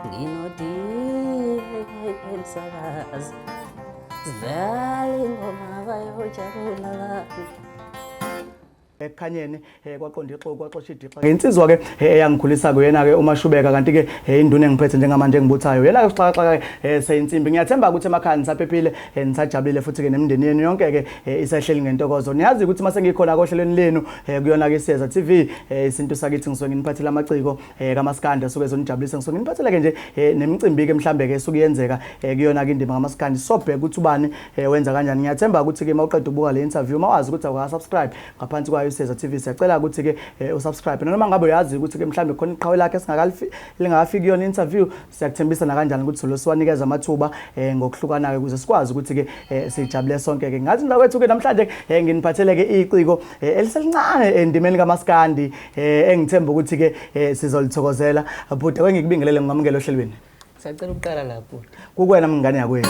nginodile emsakazi sidlala ingoma bayojabula kabi ekukhanyeni eh, kwaqonda ixoku kwaxosha idixa ngensizwa ke eh, eyangikhulisa kuyena ke umashubeka kanti ke eh, induna engiphethe njengamanje engibuthayo yena ke usixakaxaka ke seyinsimbi ngiyathemba ukuthi emakhaya nisaphephile nisajabulile futhi ke nemindeni yenu yonke ke isahleli ngentokozo niyazi ukuthi mase ngikhona kohlelweni lenu kuyona ke siyeza TV isintu sakithi ngisuke nginiphathela amaciko eh kamaskandi asuke ezonijabulisa ngisuke nginibatheleke nje eh, nemicimbi ke mhlambe ke esuke yenzeka eh, kuyona ke indima kamaskandi sobheka ukuthi ubani eh, wenza kanjani ngiyathemba ukuthi ke mawuqeda ukubuka le interview mawazi ukuthi awuka subscribe ngaphansi kwayo iseza TV siyacela ukuthi ke usubscribe noma ngabe uyazi ukuthi ke mhlambe khona iqhawe lakhe singakalifi lingafiki kuyona interview Siyakuthembisa nakanjani ukuthi solo siwanikeza amathuba eh, ngokuhlukana-ke ukuze sikwazi ukuthi-ke eh, sijabule sonke-ke. Ngathi mntakwethu-ke namhlanje eh, nginiphathele-ke iciko eh, eliselincane endimeni kamaskandi eh, engithemba ukuthi-ke eh, sizolithokozela. Bhuti, ake ngikubingelele ngingamukele ohlelweni. Sacela ukuqala la bhuti. Kukwena mngane yakwethu.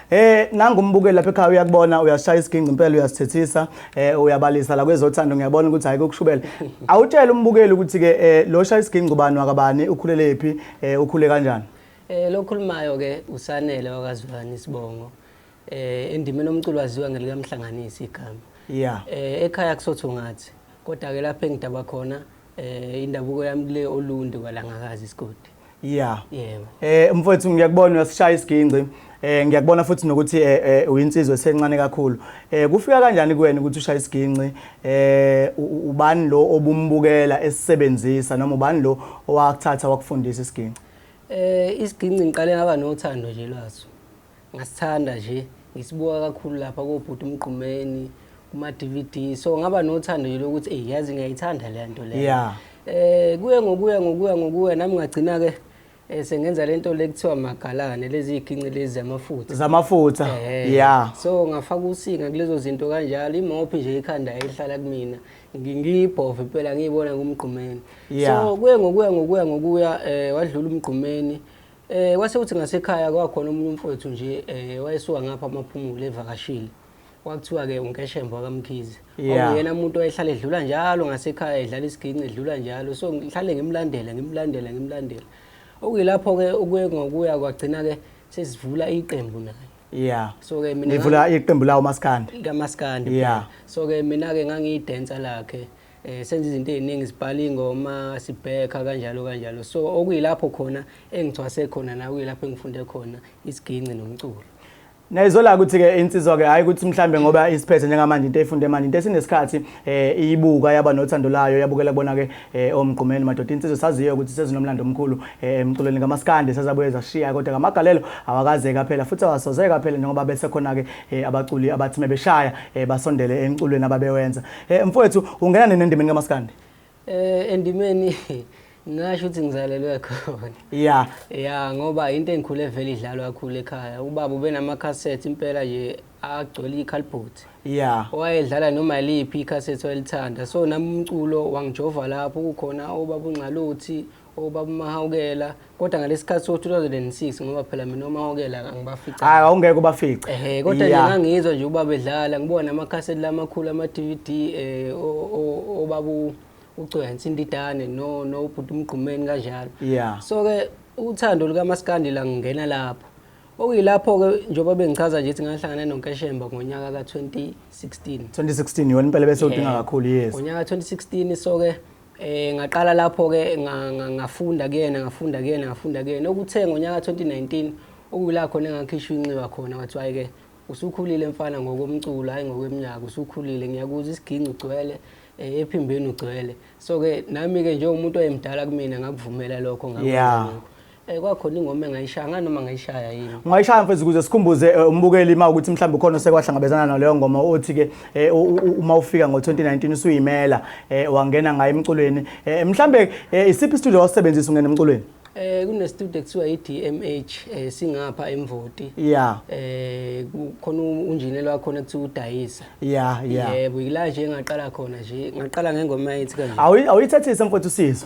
Eh nangumbukeli lapha ekhaya uyakubona uyashaya isiginci impela uyasithethisa eh uyabalisa la kwezothando ngiyabona ukuthi hayi kokushubela. Awutshela umbukeli ukuthi ke eh lo shaya isiginci ubani wakabani ukhulelephi eh ukhule kanjani? Eh lokhulumayo ke usanele wakazulani isibongo. Eh endimeni omculo waziwa ngelika mhlanganisi igama. Yeah. Eh ekhaya kusotho ngathi kodwa ke lapha engidaba khona eh indabuko yami kule olundi kwalangakazi isigodi. Yeah. Yebo. Eh mfowethu ngiyakubona uyasishaya isigingci. Eh ngiyakubona futhi nokuthi eh, eh uyinsizwe esencane kakhulu. Eh kufika kanjani kuwena ukuthi ushaya isigingci? Eh ubani lo obumbukela esisebenzisa noma ubani lo owakuthatha wakufundisa isigingci? Eh isigingci ngiqale ngaba nothando nje lwaso. ngasithanda nje ngisibuka kakhulu lapha kobhuti umgqumeni kuma-dvd so ngaba nothando nje lokuthi eyi yazi ngiyayithanda le nto leyo Yeah. eh kuye ngokuya ngokuya ngokuya nami ngagcina-ke um sengenza le nto le kuthiwa magalane lezi yigingci lezi zamafutha zamafutha Eh, ya so ngafaka usinga kulezo zinto kanjalo imophi nje ikhanda yayihlala kumina Ngi- ngiyibhove impela ngiyibona kumgqumeni Yeah. so kuye ngokuya ngokuya ngokuya um wadlula umgqumeni Eh kwase kuthi ngasekhaya kwakhona omunye umfowethu nje eh wayesuka ngapha amaphumulo evakashile. Kwakuthiwa ke uNkeshembo akamkhize. Yeah. Uyena umuntu oyehlala edlula njalo ngasekhaya edlala isiginci edlula njalo. So ngihlale ngimlandela ngimlandela ngimlandela. Okuyilapho ke ukuye ngokuya kwagcina ke sesivula iqembu naye. Yeah. So ke mina Nivula iqembu lawo maskandi. lamaskandi Yeah. kuphela. so ke mina ke ngangiyidancer lakhe eh senza izinto eziningi sibhala ingoma sibhekha kanjalo kanjalo so okuyilapho khona engithwase khona na kuyilapho engifunde khona isiginci nomculo Nayizola ukuthi ke insizwa ke hayi ukuthi mhlambe ngoba isiphethe njengamanje into efunde manje into esinesikhathi eh iyibuka yaba nothando layo yabukela kubona ke eh, omgqumeni madoda insizwa saziyo ukuthi sezinomlando omkhulu eh, emculweni ngamaskande sazabuye zashiya kodwa ngamagalelo awakaze kaphela futhi awasoze kaphela njengoba bese khona ke eh, abaculi abathi mebeshaya basondele emculweni ababewenza Eh mfowethu ungena nini endimeni kamaskandi? Eh endimeni ngasho ukuthi ngizalelwe khona. Yeah. Yeah ngoba into engikhule vele idlalwa kakhulu ekhaya. Ubaba ubenama cassette impela nje agcwele ikhalibhothi. Yeah. Wayedlala noma liphi ikhasethi wayelithanda. So nami umculo wangijova lapho kukhona obaba uNxaluthi obaba uMahawukela kodwa ngalesikhathi so 2006 ngoba phela mina uMahawukela angibafica hayi awungeke ubafice ehe kodwa nje ngangizwa nje ubaba edlala ngibona amakhasethi lamakhulu ama DVD eh obabu ucweya insindidane no no ubhuti umgqumeni kanjalo yeah so ke uthando luka maskandi la ngingena lapho okuyilapho ke njengoba bengichaza nje ukuthi ngahlangana nonkeshemba ngonyaka ka 2016 2016 yona impela bese udinga kakhulu yes ngonyaka 2016 so ke Eh ngaqala lapho ke ngafunda kuyena ngafunda kuyena ngafunda kuyena okuthe ngonyaka 2019 okuyila khona engakhishwa inxiwa khona wathi hayi ke usukhulile mfana ngokomculo hayi ngokweminyaka usukhulile ngiyakuza isiginci ugcwele eh, ephimbeni ugcwele so ke nami ke njengomuntu oyemdala kumina ngakuvumela lokho ngakwenza yeah. Eh kwakhona ingoma engayishaya nganoma ngayishaya yini. Ungayishaya mfethu ukuze sikhumbuze eh, umbukeli ma ukuthi mhlawumbe ukhona osekwahlangabezana naleyo ngoma othi ke eh, uma ufika ngo2019 usuyimela eh, wangena ngayo emculweni. Mhlawumbe isiphi studio wasebenzisa ungena emculweni? Eh kune studio kuthiwa iDMH eh singapha eMvoti. Yeah. Eh kukhona unjineli wakho nekuthiwa udayisa. ya ya yebo yila nje ngaqala khona nje ngaqala ngengoma ethi kanje Awu- awuyithathise mfowethu sizo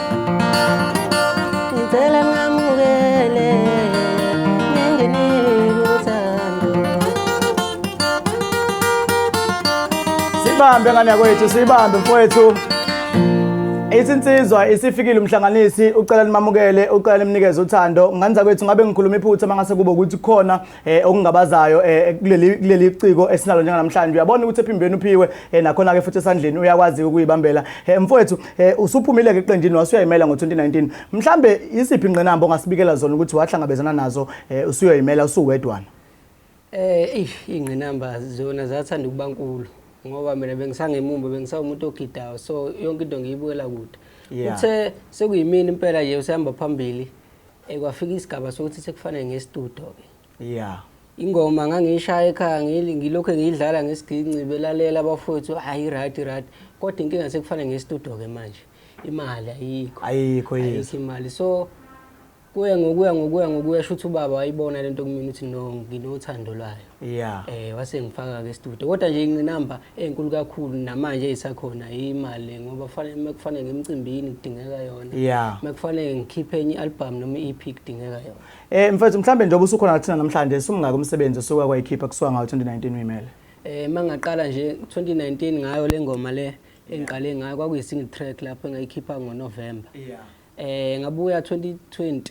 siyibambe ngane yakwethu siyibambe mfowethu ithi insizwa isifikile umhlanganisi ucela nimamukele ucela nimnikeze uthando nganza kwethu ngabe ngikhuluma iphutha mangase kube ukuthi khona eh okungabazayo eh kuleli kuleli ciko esinalo njengamhlanje uyabona ukuthi ephimbeni uphiwe eh nakhona ke futhi esandleni uyakwazi ukuyibambela eh mfowethu eh usuphumile ke eqenjini wasuyayimela ngo2019 mhlambe isiphi ingqinamba ongasibikela zona ukuthi wahlangabezana nazo eh usuyayimela usuwedwana eh eish ingqinamba zona zathanda ukubankulu ngoba mina bengisangemumba bengisawumuntu ogidayo so yonke into ngiyibukela kude uthe sekuyimini impela nje usihamba phambili Eh kwafika isigaba sokuthi sekufanele ngestudio ke. Yeah. Ingoma ngangiyishaya ekhaya ngili ngilokho ngiyidlala ngesiginci belalela abafowethu hayi right right kodwa inkinga sekufanele ngestudio ke manje imali ayikho. Ayikho yes. Ayikho imali so kuye ngokuya ngokuya ngokuya shuthi ubaba wayibona lento kumina uthi no nginothando lwayo. Yeah. Eh wase ngifaka ke studio. Kodwa nje inqinamba enkulu kakhulu namanje isakhona imali ngoba kufanele mekufanele ngemcimbini kudingeka yona. Yeah. Mekufanele ngikhiphe enye album noma EP kudingeka yona. Eh mfethu mhlambe njengoba usukhona kuthina namhlanje sumngaka umsebenzi osuka kwayikhipha kusuka ngawo 2019 uyimele. Eh mangaqala nje 2019 ngayo lengoma le engiqale ngayo kwakuyi single track lapho engayikhipha ngoNovember. Yeah. Eh ngabuya 2020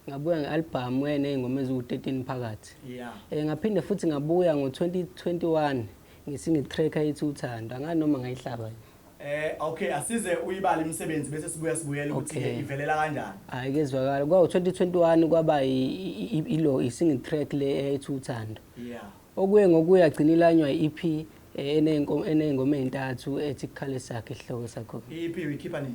Ngabuya nge-albhamu eyeney'ngoma eziwu-13 phakathi. Yeah. Eh, ngaphinde futhi ngabuya ngo-2021 ngesingle track ethi uthando. Angani noma ngayihlaba yini. Eh okay asize uyibala imisebenzi bese sibuya sibuyela ukuthi Okay. ivelela kanjani. Hayi kezwakala. Kwawu-2021 kwaba i- i- i- ilo i-single track le ethi uthando. Yeah. Okuye ngokuye agcina ilanywa i-EP eh, eney'nko- eney'ngoma ey'ntathu ethi kukhale sakhe isihloko sakhona. Iphi uyikhipha nini?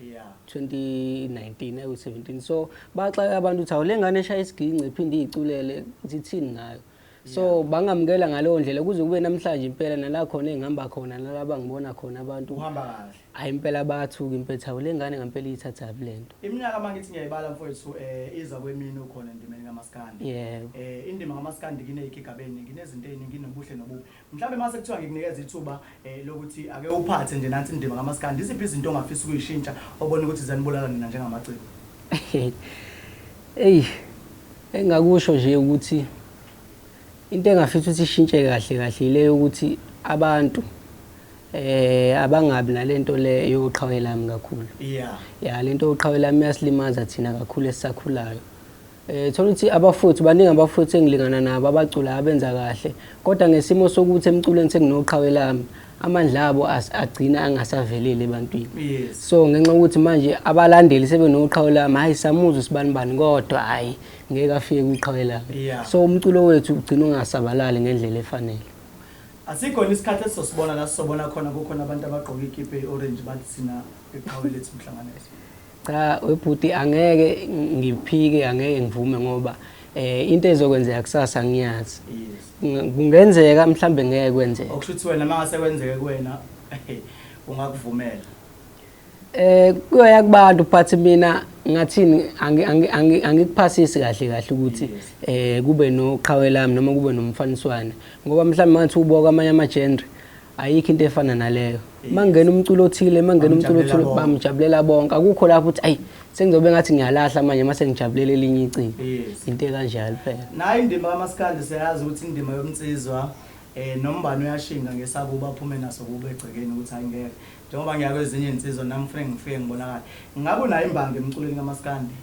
2019 awu 17 so baxaka abantu ukuthi awulengane eshaya isiginci iphinde iyiculele zithini ngayo so bangamukela ngaleyo ndlela kuze kube namhlanje impela nala khona engihamba khona nalaba ngibona khona abantu uhamba kahle hayi impela bayathuka impela thawu lengane ngempela iyithatha lento iminyaka mangithi ngiyayibala mfowethu eh iza kwemini ukhona endimeni kamaskandi yebo eh indima kamaskandi kineyigigabeni nginezinto eziningi nobuhle nobubi Mhlawumbe mase kuthiwa ngikunikeza ithuba eh, lokuthi ake uphathe nje nansi indima kamaskandi, iziphi izinto ongafisa ukuyishintsha obona ukuthi zanibulala nina njengamaciko? Eyi, engingakusho nje ukuthi into engafisa ukuthi ishintshe kahle kahle ile yokuthi abantu eh abangabi nalento le yoqhawelami kakhulu. Yeah. Ya lento yoqhawelami yasilimaza thina kakhulu esisakhulayo. Eh thola ukuthi abafuthi baningi abafuthi engilingana nabo abacula abenza kahle kodwa ngesimo sokuthi emculweni senginoqhawe lami amandla abo agcina angasaveleli ebantwini yes. so ngenxa ukuthi manje abalandeli sebenoqhawe lami hayi samuzwe sibani bani kodwa hayi ngeke afike kwiqhawe lami yeah. so umculo wethu ugcina ungasabalali ngendlela efanele asikhona isikhathi esizosibona la sisobona khona kukhona abantu abagqoke ikipe ye-orange bathi sina eqhawe lethu mhlanganiso Cha webhuti angeke ngiphike angeke ngivume ngoba eh into ezokwenzeka kusasa ngiyazi. Kungenzeka mhlambe ngeke kwenzeke. Okusho ukuthi wena mangase kwenzeke kuwena ungakuvumela. Eh kuyoya kubantu but mina ngathini angikuphasisi kahle kahle ukuthi eh kube noqhawe lami noma kube nomfaniswane ngoba mhlawumbe ngathi ubuka kwamanye ama genre ayikho into efana naleyo mangena umculo othile mangena umculo othile bamjabulela bonke akukho lapho ukuthi ayi sengizobe ngathi ngiyalahla manje mase ngijabulela elinye icingo into ekanjalo phela nayo indima kamaskandi siyazi ukuthi indima yomnsizwa eh nombani uyashinga ngesakuba aphume naso kube egcekeni ukuthi ayingeke njengoba ngiyakwezinye insizwa nami kufanele ngifike ngibonakala ngabe unayo imbangi emculweni kamaskandi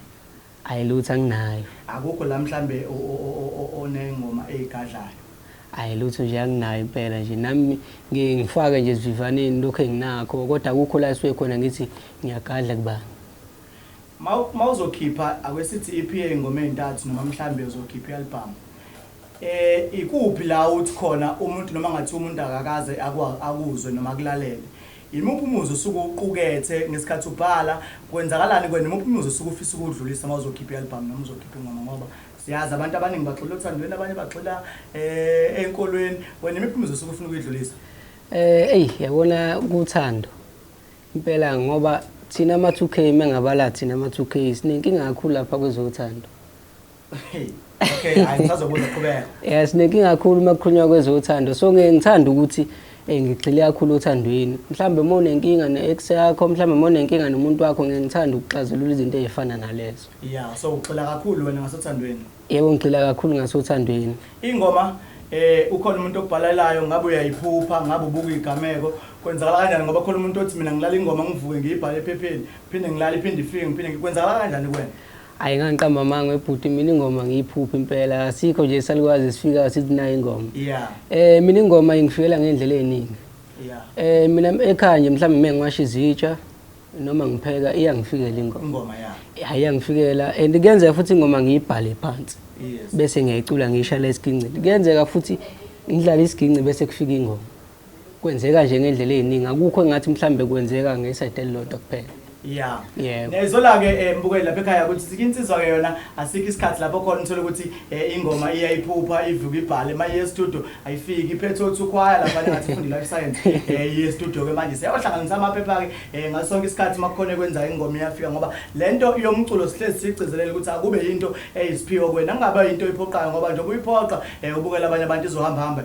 Ayi lutho anginayo. Akukho la mhlambe onengoma eyigadlayo? Ayi lutho nje anginayo impela nje nami ngiye ngifake nje esivivaneni lokhu enginakho kodwa akukho la esuke khona ngithi ngiyagadla kubani. Uma uzokhipha ake sithi i-EP eyingoma ezintathu noma mhlambe uzokhipha i-album, ikuphi la uthi khona umuntu noma kungathiwa umuntu akakaze akuzwe noma akulalele Yimuphi umuzwa osuke uwuqukethe ngesikhathi ubhala? Kwenzakalani kuwena? Imuphi umuzwa osuke ufisa ukuwudlulisa uma uzokhipha i-albhamu noma uzokhipha ingoma ngoba siyazi abantu abaningi bagxila othandweni, abanye bagxila um ey'nkolweni. Wena imiphi imizwa osuke ufuna ukuyidlulisa? Um eyi yabona kuthando impela ngoba thina ama-two K mengabala thina ama-two K sinenkinga kakhulu lapha kwezothando okay hayi ngisazobuza qhubeka yeah sinenkinga kakhulu uma kukhulunywa kwezothando so ngeke ngithanda ukuthi eh ngigxile kakhulu othandweni mhlawumbe uma unenkinga ne-ex yakho mhlawumbe uma unenkinga nomuntu wakho ngeke ngithanda ukuxazulula izinto ezifana nalezo yeah so ugxila kakhulu wena ngasothandweni yebo ngigxila kakhulu ngasothandweni ingoma eh ukhona umuntu obhalelayo ngabe uyayiphupha ngabe ubuka igameko kwenzakala kanjani ngoba khona umuntu othi mina ngilala ingoma ngivuke ngiyibhale ephepheni phinde ngilala iphinde ifike ngiphinde kwenzakala kanjani kuwena Ayi ngangiqamba amanga webhuti mina ingoma ngiyiphupha impela asikho nje salukazi sifika sithi nayo ingoma yeah. eh mina ingoma ingifikela ngendlela eningi yeah. eh mina ekhaya nje mhlawumbe mina ngiwasha izitsha noma ngipheka iyangifikela ingoma ingoma ya yeah. iyangifikela and kuyenzeka futhi ingoma ngiyibhale phansi yes. bese ngiyayicula ngiyishaya lesiginci kuyenzeka futhi ngidlala isiginci bese kufika ingoma Kwenzeka nje ngendlela eziningi akukho engathi mhlambe kwenzeka ngesayide elilodwa kuphela. Yeah. Yebo. Nezola ke eh, mbukeli lapha ekhaya ukuthi sike insizwa ke yona asikho isikhathi lapho khona uthola ukuthi eh, ingoma iyayiphupha ivuka ibhale manje ye studio ayifiki iphethe othukhwaya lapha ngathi fundi life science eh ye studio ke manje siyayohlanganisa amaphepha ke eh, ngaso sonke isikhathi makukhona kwenza ingoma iyafika ngoba lento yomculo sihlezi sigcizelela ukuthi akube into eyisiphiwo kwena kungaba into iphoqayo ngoba njengoba uyiphoqa eh, ubukela abanye abantu izohamba hamba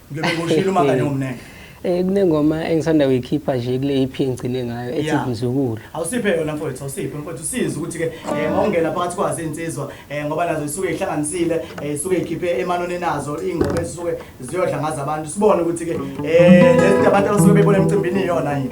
Ngeke ngoshilo uma kanye ngomnene. Eh kunengoma engisanda kuyikhipha nje kule EP engigcine ngayo ethi Yeah. Mzukulu. Awusiphe yona mfowethu, awusiphe mfowethu usiza ukuthi ke eh mawungena phakathi kwazo insizwa eh ngoba nazo isuke ihlanganisile, eh isuke ikhiphe emanone nazo ingoma ezisuke ziyodla ngazo abantu. Sibone ukuthi ke eh lezi abantu abasuke bebona emcimbini iyona yini.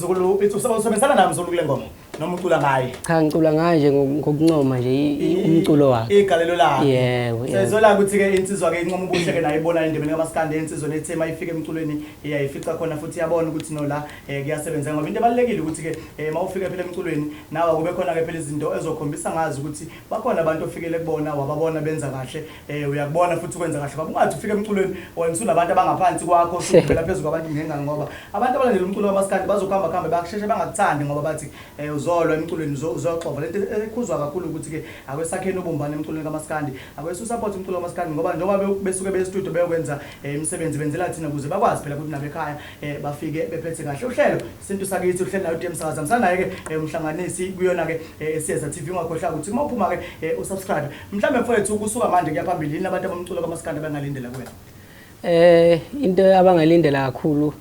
Zukulu uthi usa- usebenzisana naye mzulu kule ngoma noma ucula ngaye Cha ngicula ngaye nje ngo- ngokuncoma nje i- i- umculo wakhe. igalelo lakhe Yebo, yebo. sezola ukuthi-ke insizwa-ke incoma ubuhle-ke nayo ibona endimeni kamaskandi ensizweni ethe uma ifika emculweni iyayifica khona futhi iyabona ukuthi nola um kuyasebenzeka ngoba into ebalulekile ukuthi-ke um uma ufika phela emculweni nawe kube khona-ke phela izinto ezokhombisa ngazi ukuthi bakhona abantu ofikele kubona wababona benza kahle Eh uyakubona futhi ukwenza kahle baba ungathi ufike emculweni wena usunabantu abangaphansi kwakho usuphela phezulu kwabantu ngengane ngoba abantu abalandela umculo wamaskandi bazokuhamba kuhambe bakusheshe bangakuthandi ngoba bathi eh uzolwa emculweni uzo- uzoxova lento ekhuzwa kakhulu ukuthi ke akwesakheni ubumbane emculweni kamaskandi akwesu support umculo wamaskandi ngoba njengoba be- besuke be studio beyokwenza eh, imisebenzi benzela thina ukuze bakwazi phela ukuthi nabekhaya eh, bafike bephethe kahle uhlelo isintu sakithi uhlelo nayo uDM Sakaza msanaye ke eh, umhlanganisi kuyona ke eh, esiyeza TV ungakhohlwa ukuthi uma uphuma ke eh, usubscribe Mhlambe mfowethu kusuka manje kuya phambili yini abantu abamculo kamaskanda bangalindela kuwena? Eh into abangalindela kakhulu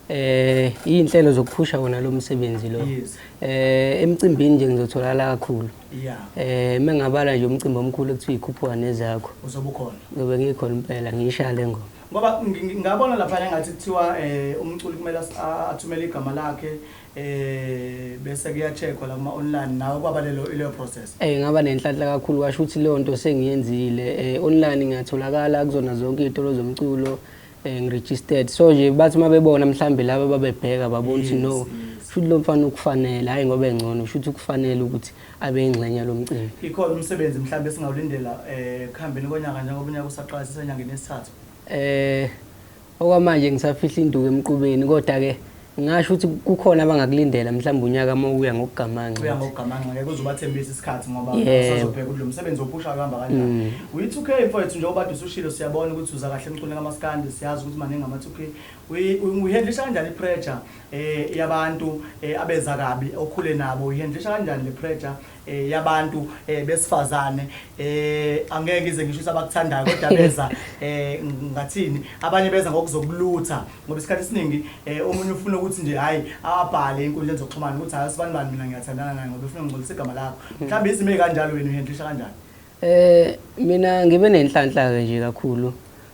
eh izinhlelo zokuphusha wona lo msebenzi lo. Yes. Eh emcimbini nje ngizotholakala kakhulu. Yeah. Eh mengabala nje umcimbi omkhulu ekuthiwa ikhuphuka nezakho. Uzobe ukhona. Ngobe ngikhona impela ngiyishale ngoma. Ngoba ngi- ngi- ngabona lapha engathi kuthiwa eh umculi kumele as- a- athumele igama lakhe eh bese kuyacheckwa la kuma online nawe kwaba lelo ile process eh ngaba nenhlanhla kakhulu washo ukuthi leyo nto sengiyenzile eh online ngiyatholakala kuzona zonke izitolo zomculo eh ngiregistered so nje bathi uma bebona mhlambe laba babebheka babona ukuthi no futhi lo mfana ukufanele hayi ngoba engcono futhi ukufanele ukuthi abe ingxenye lomcimbi ikhona umsebenzi mhlambe singawulindela eh khambeni konyaka njengoba unyaka usaqala sisenyangeni yesithathu eh Okwamanje ngisafihla induku emqubeni kodwa ke ngasho ukuthi kukhona abangakulindela mhlawumbe unyaka uma uya ngokugamanxa uya ngokugamanxa ngeke uzobathembisa isikhathi ngoba usazobheka ukuthi lo msebenzi ophusha kuhamba kanjani mm. uyi-2k mfowethu njengoba kade usushilo siyabona ukuthi uza kahle emculweni kamaskandi siyazi ukuthi maningi ama-2k uyihendlisha kanjani i-pressure um yabantu um abeza kabi okhule nabo uyihendlisha kanjani le pressure eh, yabantu eh, besifazane eh, angeke ize ngisho ukuthi abakuthandayo kodwa beza eh, ngathini abanye beza ngokuzokulutha ngoba isikhathi esiningi eh, omunye ufuna ukuthi nje hhayi abhale enkundleni zokuxhumana ukuthi hhayi sibani bani mina ngiyathandana naye ngoba ufuna ngingcolisa igama lakho mhlawumbe izimo ey'kanjalo wena uhendlisha kanjani Eh mina ngibe nenhlanhla ke nje kakhulu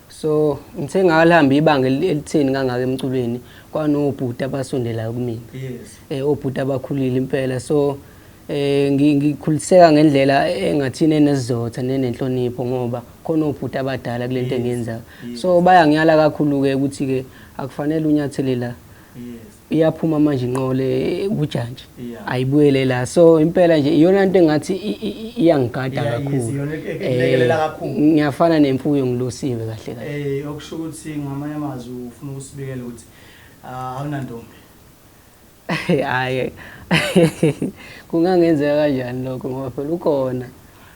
so ngithe ngalihambe ibanga elitheni kangaka emculweni kwanobhuti abasondelayo kumina yes. eh obhuti abakhulile impela so eh ngikhuliseka ngendlela engathini enesizotha nenenhlonipho ngoba khona obhuti abadala kulento engenza so bayangiyala kakhulu ke ukuthi ke akufanele unyathele la yes iyaphuma manje inqole kujantshi ayibuyele la so impela nje iyona nto engathi iyangigada kakhulu eh, ngiyafana nemfuyo ngilosiwe kahle kahle eh okusho ukuthi ngamanye amazwi ufuna ukusibikela ukuthi ah, awunantombi hayi kungangenzeka kanjani lokho ngoba phela ukhona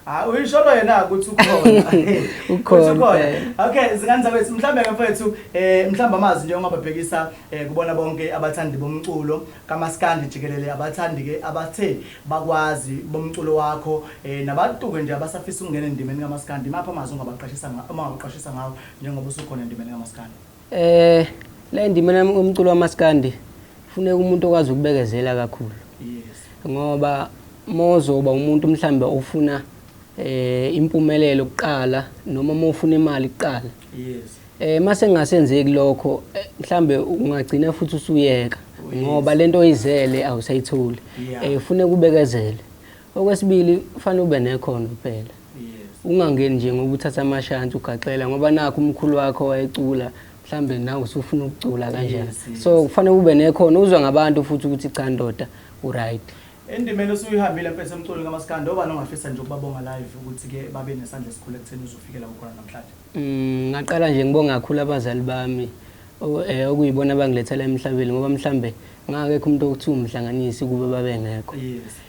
Hayi uyisholo yena ukuthi ukhona. Ukhona. Ukhona. Okay, zingane zakwethu mhlambe ke mfethu eh mhlambe amazi nje ongababhekisa eh kubona bonke abathandi bomculo kaMaskandi jikelele abathandi ke abathe bakwazi bomculo wakho eh nabantuke nje abasafisa ukungena endimeni kaMaskandi mapha amazi ongabaqashisa ngawo uma ungabaqashisa ngawo njengoba usukhona endimeni kaMaskandi. Eh la indima nami umculo wamaskandi funeka umuntu okwazi ukubekezela kakhulu. Yes. Ngoba mozoba umuntu mhlambe ofuna eh impumelelo kuqala noma mofuna imali kuqala. Yes. Eh mase ngasenzeki lokho eh, mhlambe ungagcina futhi usuyeka oh, ngoba lento oyizele awusayitholi. Eh funeka ubekezele. Okwesibili kufanele ube nekhono kuphela. Ungangeni nje ngoba uthatha amashansi ugaxela ngoba nakho umkhulu wakho wayecula mhlambe nawe usufuna ukucula kanjani. So kufanele ube nekhono uzwa ngabantu futhi ukuthi cha ndoda uright. Endimeni osuyihambile mfethu emculweni kamaskandi obani ongafisa nje ukubabonga live ukuthi ke babe nesandla esikhulu ekutheni uzofikela kukhona namhlanje. Mm, ngaqala nje ngibonga kakhulu abazali bami eh okuyibona abangilethela emhlabeni ngoba mhlambe ngakekho umuntu okuthiwa umhlanganisi kube babengekho. Yes.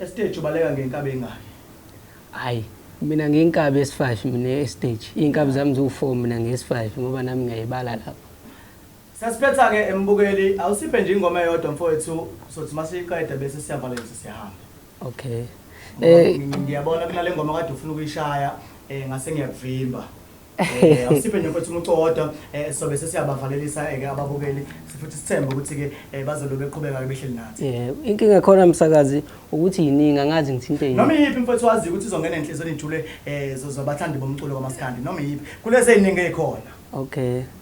Estage ubaleka ngenkabi engaki? Hayi, mina ngiyinkabi yesi-5 mina e-stage. Iy'nkabi zami ziwu-4 mina ngiyesi-5 ngoba nami ngiyayibala lapho. Sesiphetha-ke embukeli, awusiphe nje ingoma eyodwa mfowethu sothi masiyiqeda bese siyavala nje sesiyahamba. Okay. Ngoba Eh, ngi- ngiyabona kunale ngoma kade ufuna ukuyishaya eh ngase ngiyakuvimba. Eh, awusiphe nje mfethu umuco wodwa eh, sobe sesiyabavalelisa eh, ke ababukeli sifuthi sithembe ukuthi ke eh, bazolo beqhubeka ke behleli nathi Eh, inkinga khona msakazi ukuthi yiningi angazi ngithinte yini. noma iyiphi mfethu waziyo ukuthi izongena enhliziyweni ijule eh, zo- zobathandi bomculo kamaskandi noma iyiphi kulezi ey'ningi ey'khona Okay.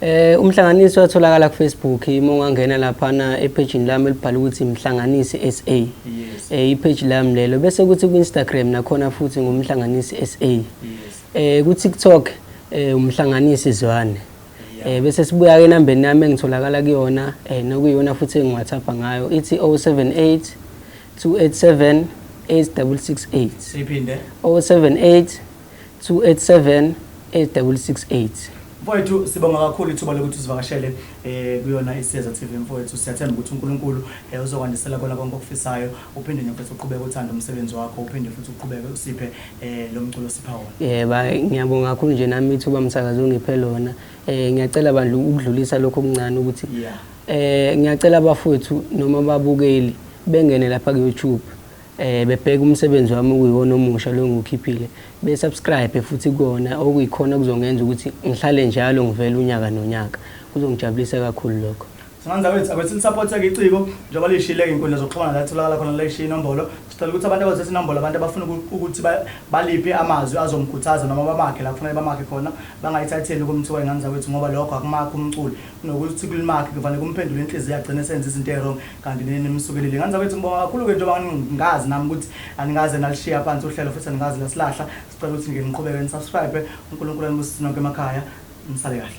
Eh umhlanganisi watholakala ku Facebook uma ungangena lapha na epage lami elibhala ukuthi mhlanganisi SA. Yes. Eh ipage lami lelo bese kuthi ku Instagram nakhona futhi ngumhlanganisi SA. Yes. Eh ku TikTok eh umhlanganisi Zwane. Eh bese sibuya ke nambeni nami engitholakala kuyona eh nokuyona futhi engiwathapha ngayo ithi 078 287 8668. Siphinde 078 287 8668 Mfowethu sibonga kakhulu ithuba lokuthi usivakashele eh kuyona iSiyeza TV mfowethu siyathemba ukuthi uNkulunkulu eh, uzokwandisela kona konke okufisayo uphinde nje mfowethu uqhubeke uthanda umsebenzi wakho uphinde futhi uqhubeke usiphe eh lo mculo sipha wona Eh ba ngiyabonga kakhulu nje nami ithuba msakazi ongiphe lona. Eh ngiyacela bandla ukudlulisa lokho okuncane ukuthi Yeah. eh ngiyacela abafowethu noma babukeli bengene lapha ku YouTube Eh bebheka umsebenzi wami okuyiwona omusha lo ngukhiphile be subscribe futhi kona okuyikhona kuzongenza ukuthi ngihlale njalo ngivela unyaka nonyaka kuzongijabulisa kakhulu lokho Singanda wethu abethi lisupporteke iciko njengoba lishile inkundla zokuxhumana la tholakala khona leshiya inombolo sicela ukuthi abantu abazethe inombolo abantu abafuna ukuthi baliphe amazwi azomkhuthaza noma bamakhe la kufanele bamakhe khona bangayithatheli kumthiwa ingane zawethu ngoba lokho akumakho umculi nokuthi kulimakhe kufanele kumphendule inhliziyo agcine esenza izinto eziwrong kanti nini nimsukelile ngani zakwethu ngibonga kakhulu-ke njengoba ngingazi nami ukuthi anikaze nalishiya phansi uhlelo futhi anikaze lasilahla sicela ukuthi nje niqhubeke nisubscribe unkulunkulu anibusise nonke emakhaya nisale kahle